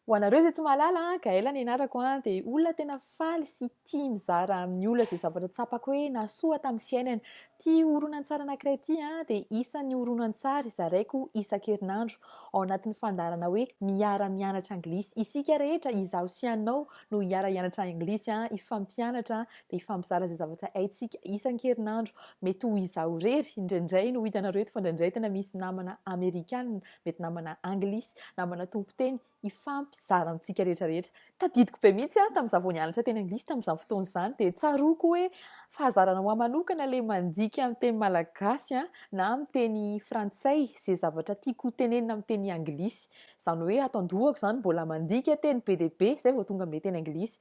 Ho anareo izay tsy mahalala, Gaëlle ny anarako dia olona tena faly sy tia mizara amin'ny olona izay zavatra tsapako hoe nahasoa tamin'ny fiainany. Ity horonantsary anankiray ity dia isan'ny horonantsary zaraiko isan-kerinandro ao anatin'ny fandaharana hoe Miara-mianatra Anglisy. Isika rehetra, izaho sy ianao, no hiara-hianatra Anglisy, hifampianatra dia hifampizara izay zavatra haintsika isan-kerinandro. Mety ho izaho irery indraindray no hitanareo eto fa indraindray tena misy namana Amerikana mety namana anglisy, namana tompon-teny, hifampizara amintsika rehetra rehetra. Tadidiko be mihitsy aho tamin'izaho vao nianatra teny anglisy tamin'izany fotoana izany, dia tsaroako hoe fahazarana ho ahy manokana ilay mandika amin'ny teny malagasy na amin'ny teny frantsay izay zavatra tiako ho tenenina amin'ny teny anglisy. Izany hoe ato an-dohako izany mbola mandika teny be dia be izay vao tonga amin'ilay teny anglisy.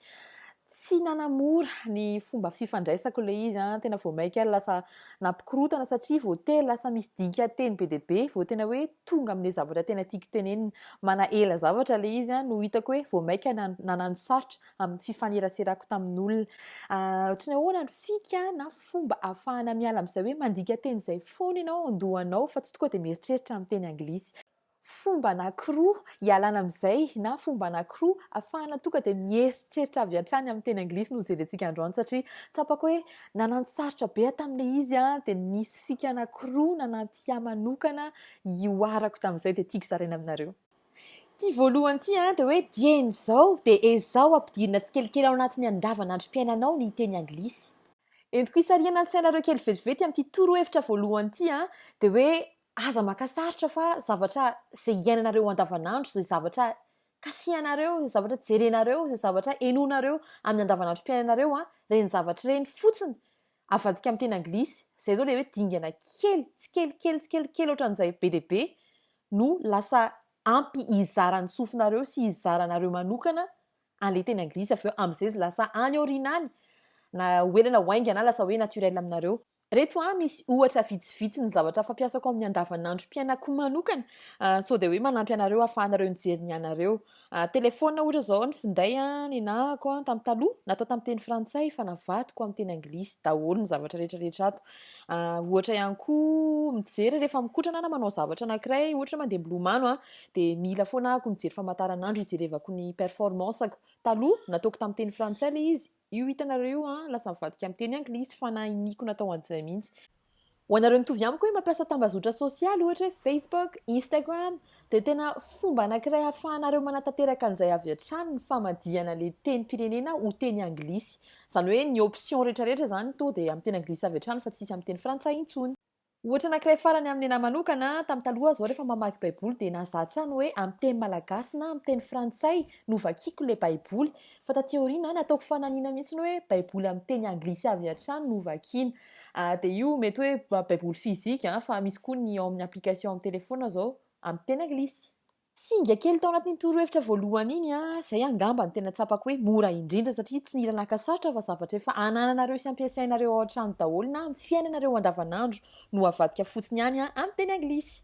Tsy nanamora ny fomba fifandraisako ilay izy, tena vao mainka lasa nampikorotana satria vao tery lasa misy dikan-teny be dia be vao tena hoe tonga amin'ilay zavatra tena tiako tenenina. Manahela zavatra ilay izy no hitako hoe vao mainka nanano sarotra amin'ny fifaneraserako tamin'olona. Ohatran'ny ahoana ny fika na fomba ahafahana miala amin'izay hoe mandika teny izay foana ianao ao an-dohanao fa tsy tokoa dia mieritreritra amin'ny teny anglisy. fomba anankiroa hialana amin'izay na fomba anankiroa afahana tonga dia mieritreritra avy hatrany amin'ny teny anglisy no jerentsika androany satria tsapako hoe nananosarotra be aho tamin'ilay izy an dia nisy fika anankiroa nanampy ahy manokana hihoarako tamin'izay dia tiako zaraina aminareo ity voalohany ity an dia hoe dieny izao dia ezaho ampidirina tsikelikely ao anatin'ny andavanandrom-piainanao ny teny anglisy entiko hisarihana ny sainareo kely vetivety amin'ity torohevitra voalohany ity an dia hoe Aza maka sarotra fa zavatra izay iainanareo andavanandro, izay zavatra kasihanareo, izay zavatra jerenareo, izay zavatra henoinareo amin'ny andavanandrom-piainanareo, ireny zavatra ireny fotsiny. Avadika amin'ny teny anglisy, izay izao ilay hoe dingana kely, tsikelikely, tsikelikely ohatran'izay be dia be no lasa ampy hizara ny sofinareo sy hizara anareo manokana an'ilay teny anglisy avy eo, amin'izay izy lasa any aoriana any, na ho ela na ho haingana, lasa hoe naturel aminareo. Reto a misy ohatra vitsivitsy ny zavatra fampiasako amin'ny andavanandrom-piainako manokana sao dia hoe manampy anareo hahafahanareo mijery ny anareo. Telefaonina ohatra izao ny finday nenahako tamin'ny taloha natao tamin'ny teny frantsay fa navadiko amin'ny teny anglisy daholo ny zavatra rehetrarehetra ato. Ohatra ihany koa mijery rehefa mikotrana na manao zavatra anankiray ohatra mandeha milomano dia mila foana ahako mijery famataranandro hijerevako ny performance-ako. Taloha nataoko tamin'ny teny frantsay ilay izy. Io hitanareo io an, lasa mivadika amin'ny teny anglisy fa na iniako natao an'izay mihitsy. Ho anareo mitovy amiko hoe mampiasa tambazotra sosialy ohatra hoe Facebook, Instagram dia tena fomba anankiray ahafahanareo manatanteraka an'izay avy hatrany ny famadihana le tenim-pirenena ho teny anglisy. Izany hoe ny options rehetra rehetra izany toa dia amin'ny teny anglisy avy hatrany fa tsisy amin'ny teny frantsay intsony. Ohatra anankiray farany amin'ny anah manokana, tamin'ny taloha aho zao rehefa mamaky baiboly dia nahazaha hatrany hoe amin'ny teny malagasy na amin'ny teny frantsay no vakiako ilay baiboly. Fa taty aoriana nataoko fananina mihitsiny hoe baiboly amin'ny teny anglisy avy hatrany no vakiana. Ah, dia io mety hoe baiboly physique an, fa misy koa ny ao amin'ny application amin'ny telephone zao amin'ny teny anglisy. Singa kely tao anatin'iny torohevitra voalohany iny an, izay angamba no tena tsapako hoe mora indrindra satria tsy nila naka sarotra fa zavatra efa anananareo sy ampiasainareo ao an-trano daholo na amin'ny fiainanareo andavanandro no avadika fotsiny any an, amin'ny teny anglisy.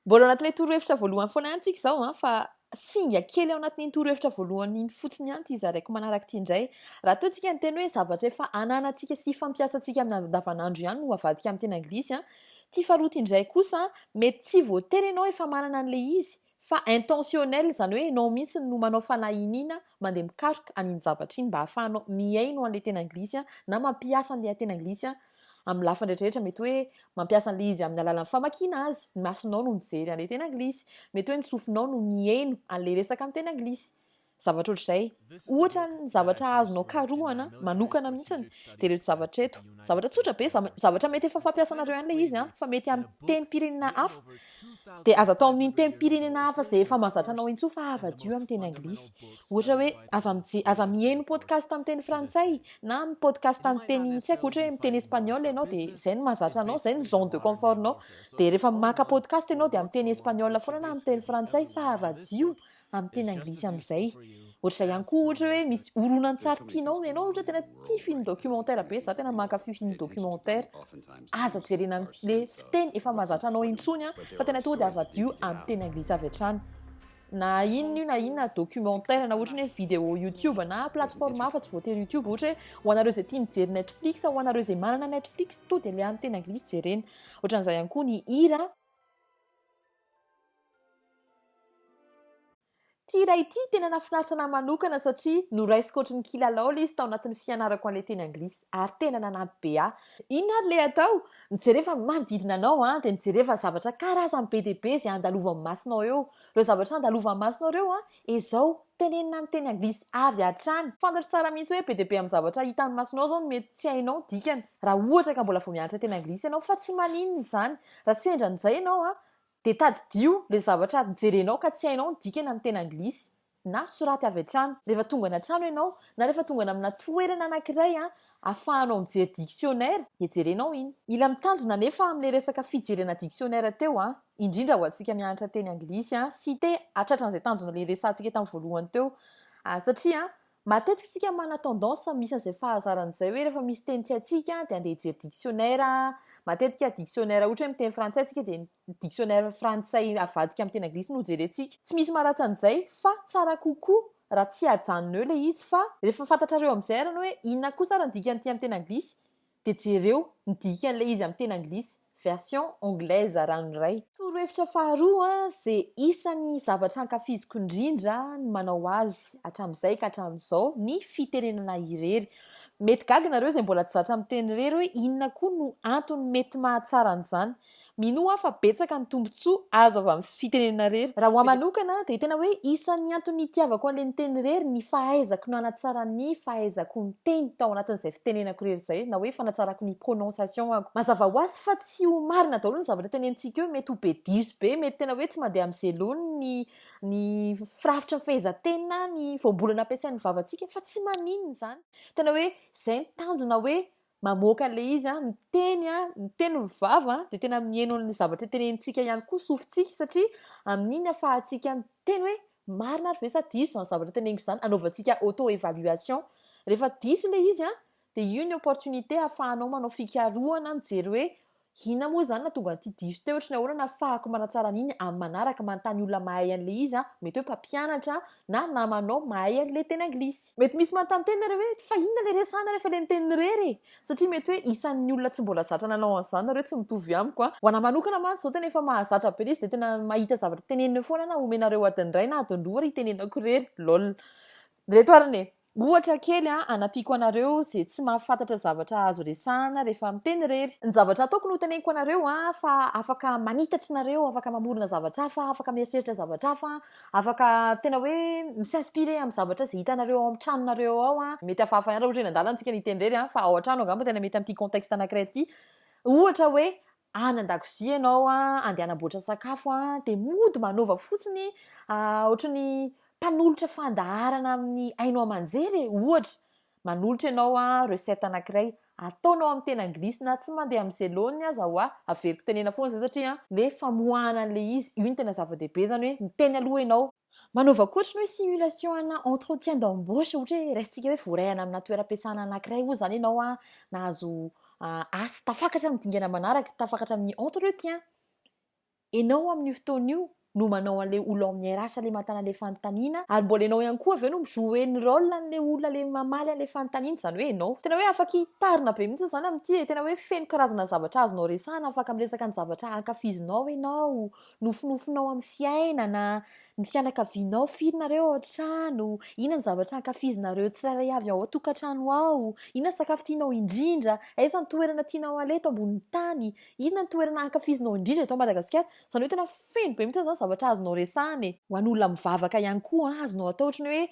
Mbola ao anatin'ilay torohevitra voalohany foana ihany tsika izao an, fa singa kely ao anatin'iny torohevitra voalohany iny fotsiny ihany ity zaraiko manaraka ity indray. Raha toa tsika niteny hoe zavatra efa ananantsika sy fampiasantsika amin'ny andavanandro ihany no avadika amin'ny teny anglisy an, Ty faharoa ty ndray kosa mety tsy voatery ianao efa manana an'ilay izy fa intentionnel izany hoe ianao mihitsy no manao fanahy iniana mandeha mikaroka an'iny zavatra iny mba ahafahanao mihaino an'ilay tena anglisy na mampiasa an'ilay tena anglisy amin'ny lafiny rehetra rehetra mety hoe mampiasa an'ilay izy amin'ny alalan'ny famakiana azy ny masonao no mijery an'ilay tena anglisy mety hoe ny sofinao no mihaino an'ilay resaka amin'ny tena anglisy zavatra ohatr'izay ohatra ny zavatra azonao karohana manokana mihitsiny de reto zavatra eto zavatra tsotra be zavatra mety efa fampiasanareo an'la izy a fa mety am tenim-pirenena hafa de aza atao amin'iny tenim-pirenena hafa zay efa mazatra anao intso fa avadio am teny anglisy ohatra hoe aza mije aza miheno podcast am teny frantsay na am podcast am teny tsy haiko ohatra hoe miteny espagnol ianao de zay no mazatra anao zay ny zone de confort nao de rehefa maka podcast ianao de am teny espagnol foana na am teny frantsay fa avadio amin'ny teny anglisy amin'izay ohatr'izay ihany koa ohatra hoe misy horonantsary tianao ianao ohatra tena tia film documentaire be za tena mankafy film documentaire aza jerena le fiteny efa mahazatra anao intsony a fa tena tonga dia avadio amin'ny teny anglisy avy hatrany na inona io na inona documentaire na ohatra ny hoe vidéo youtube na plateforme hafa tsy voatery youtube ohatra hoe ho anareo izay tia mijery netflix ho anareo izay manana netflix to dia le amin'ny teny anglisy jerena ohatran'izay ihany koa ny hira Ity iray ity tena nahafinaritra anah manokana satria noraisiko ohatry ny kilalao ilay izy tao anatin'ny fianarako an'ilay teny anglisy ary tena nanampy be ahy. Inona ary ilay atao? Ny jereva ny manodidina anao an, dia ny jereva zavatra karazany be dia be izay andalovan'ny masonao eo. Ireo zavatra andalovan'ny masonao ireo an, Ezao tenenina amin'ny teny anglisy avy hatrany. Fantatro tsara mihitsy hoe be dia be amin'ny zavatra hitan'ny masonao izao no mety tsy hainao ny dikany, raha ohatra ka mbola vao mianatra teny anglisy ianao, fa tsy maninona izany. Raha sendra an'izay ianao, dia tadidio ilay zavatra jerenao ka tsy hainao ny dikany amin'ny teny anglisy, na soraty avy hatrany. Rehefa tonga any an-trano ianao, na rehefa tonga any amina toerana anankiray, afahanao mijery dictionnaire dia jerenao iny. Mila mitandrina anefa amle resaka fijerena dictionnaire teo an, indrindra ho antsika mianatra teny anglisy an, sy te hatratra an'izay tanjona le resahantsika tam voalohany teo an, satria an, matetika isika manana tendance misy an'izay fahazarana izay hoe rehefa misy teny tsy haintsika dia andeha hijery dictionnaire an, matetika dictionnaire ohatra hoe miteny frantsay tsika dia ny. dictionnaire frantsay avadika amin'ny teny anglisy no jerentsika. Tsy misy maharatsy an'izay fa tsara kokoa raha tsy ajanony eo ilay izy fa rehefa fantatrareo amin'izay arany hoe inona kosa ary ny dikan'ity amin'ny teny anglisy dia jereo ny dikan'ilay izy amin'ny teny anglisy, version anglaise ranoray. Torohevitra faharoa, ze isan'ny zavatra ankafiziko indrindra ny manao azy hatramin'izay ka hatramin'izao, ny fitenenana irery. Mety gaga nareo izay mbola tsy zatra miteny irery hoe inona koa no antony mety mahatsara an'izany. Minoa aho fa betsaka ny tombontsoa azo avy amin'ny fitenenana rery. Raha ho ahy manokana dia tena hoe isan'ny antony nitiavako an'ilay niteny rery ny fahaizako nanatsara ny fahaizako miteny tao anatin'izay fitenenako rery izay na hoe fanatsarako ny prononciation-ako. Mazava ho azy fa tsy ho marina daholo ny zavatra tenenintsika eo, mety ho be diso be, mety tena hoe tsy mandeha amin'ny zelony ny ny firafitry ny fehezanteny na ny voambolana ampiasain'ny vavantsika fa tsy maninona izany. Tena hoe izay ny tanjona hoe mamoaka an'ilay izy an, miteny an, ny tenin'ny vava dia tena miheno an'ilay zavatra tenenintsika ihany koa sofintsika satria amin'iny afahantsika miteny hoe marina ary ve sa diso izany zavatra teneniko izany, anaovantsika auto évaluation. Rehefa diso ilay izy an, dia io ny opportunité afahanao manao fikarohana mijery hoe Inona moa izany nahatonga an'ity diso teo ohatry ny ahoana nahafahako manatsara an'iny amin'ny manaraka manontany olona mahay an'ilay izy aho, mety hoe mpampianatra na namanao mahay an'ilay teny anglisy. Mety misy manontany tena nareo hoe fa inona ilay resahana rehefa ilay miteny irery e? Satria mety hoe isan'ny olona tsy mbola zatra nanao an'izany nareo tsy mitovy amiko an! Ho anahy manokana mantsy izao tena efa mahazatra be ilay izy dia tena mahita zavatra teneniny eo foana aho na omenareo adiny iray na adiny roa ary itenenako irery. Lol. Reto arny e! Ohatra kely an, anampiako anareo ze tsy mahafantatra zavatra azo resahana rehefa miteny irery. Ny zavatra ataoko no teneniko anareo an, fa afaka manitatry nareo, afaka mamorona zavatra hafa, afaka mieritreritra zavatra hafa an, afaka tena hoe mi s'inspirer amin'ny zavatra ze hitanareo ao amin'ny tranonareo ao an, mety hafahafa ihany raha ohatra hoe nandalana tsika niteny irery an, fa ao antrano angamba tena mety amin'ity contexte anakiray ity, ohatra hoe any an-dakozia ianao andeha hanamboatra sakafo dia mody manova fotsiny ohatry ny mpanolotra fandaharana amin'ny haino aman-jery e, ohatra manolotra ianao recette anankiray ataonao amin'ny teny anglisy na tsy mandeha amin'ny zelony aza ho'a averiko tenena foana izay satria le famoahana an'ilay izy io no tena zava-dehibe izany hoe miteny aloha ianao Manaova ohatry ny hoe simulation ana entretien d'embauche ohatra hoe raisintsika hoe voarahana amina toeram-piasana anankiray oa zany ianao an, nahazo asa tafakatra amin'ny dingana manaraka, tafakatra amin'ny entretien. Ianao amin'io fotoana io no manao an'ilay olona ao amin'ny RH ilay mahatana ilay fanontaniana ary mbola ianao ihany koa avy eo no mi-jouer ny rôle an'ilay olona ilay mamaly an'ilay fanontaniana, izany hoe ianao. Tena hoe afaka hitarina be mihitsy izany amin'ity e, tena hoe feno karazana zavatra azonao resahana, afaka miresaka ny zavatra ankafizinao ianao, Nofinofinao amin'ny fiainana, ny fianakavianao, firy nareo ao an-trano, inona ny zavatra ankafizinareo tsirairay avy ao an-tokantrano ao, inona ny sakafo tianao indrindra, aiza ny toerana tianao aleha eto ambonin'ny tany, inona ny toerana ankafizinao indrindra eto Madagasikara. Izany hoe tena feno be mihitsy izany zavatra azonao resahana e. Ho an'olona mivavaka ihany koa, azonao atao ohatran'ny hoe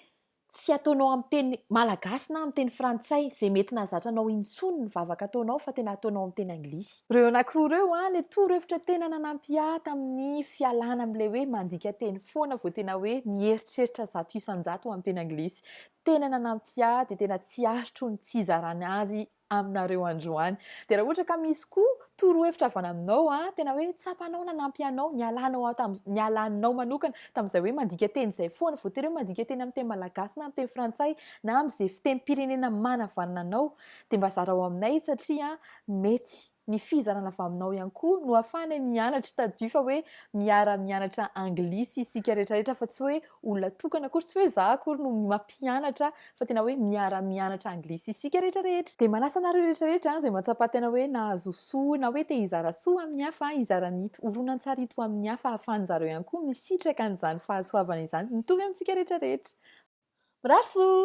Tsy ataonao amin'ny teny malagasy na amin'ny teny frantsay, izay mety nahazatra anao intsony ny vavaka ataonao fa tena ataonao amin'ny teny anglisy. Ireo anankiroa ireo an, ilay torohevitra tena nanampy ahy tamin'ny fialana amin'ilay hoe mandika teny foana vao tena hoe mieritreritra zato isan-jato amin'ny teny anglisy. Tena nanampy ahy dia tena tsy aritro ny tsy hizarana azy aminareo androany. Dia raha ohatra ka misy koa torohevitra avy any aminao, ah, tena hoe tsapanao nanampy anao, nialanao aho tam, nialanao manokana tamin'izay hoe mandika teny izay foana, voatery hoe mandika teny amin'ny teny malagasy na amin'ny teny frantsay na amin'izay fitemim-pirenena manavanana anao, dia mba zarao aminay satria mety ny fizarana avy aminao ihany koa no ahafahanay mianatra tadidio fa hoe miara mianatra anglisy isika rehetra rehetra fa tsy hoe olona tokana akory tsy hoe za akory no mampianatra fa tena hoe miara mianatra anglisy isika rehetra rehetra dia manasa anareo rehetra rehetra izay mahatsapa tena hoe nahazo soa na hoe te hizara soa amin'ny hafa hizara ny ito horonantsary ito amin'ny hafa ahafahan'zareo ihany koa misitraka an'izany fahasoavana izany mitovy amintsika rehetra rehetra mirary soa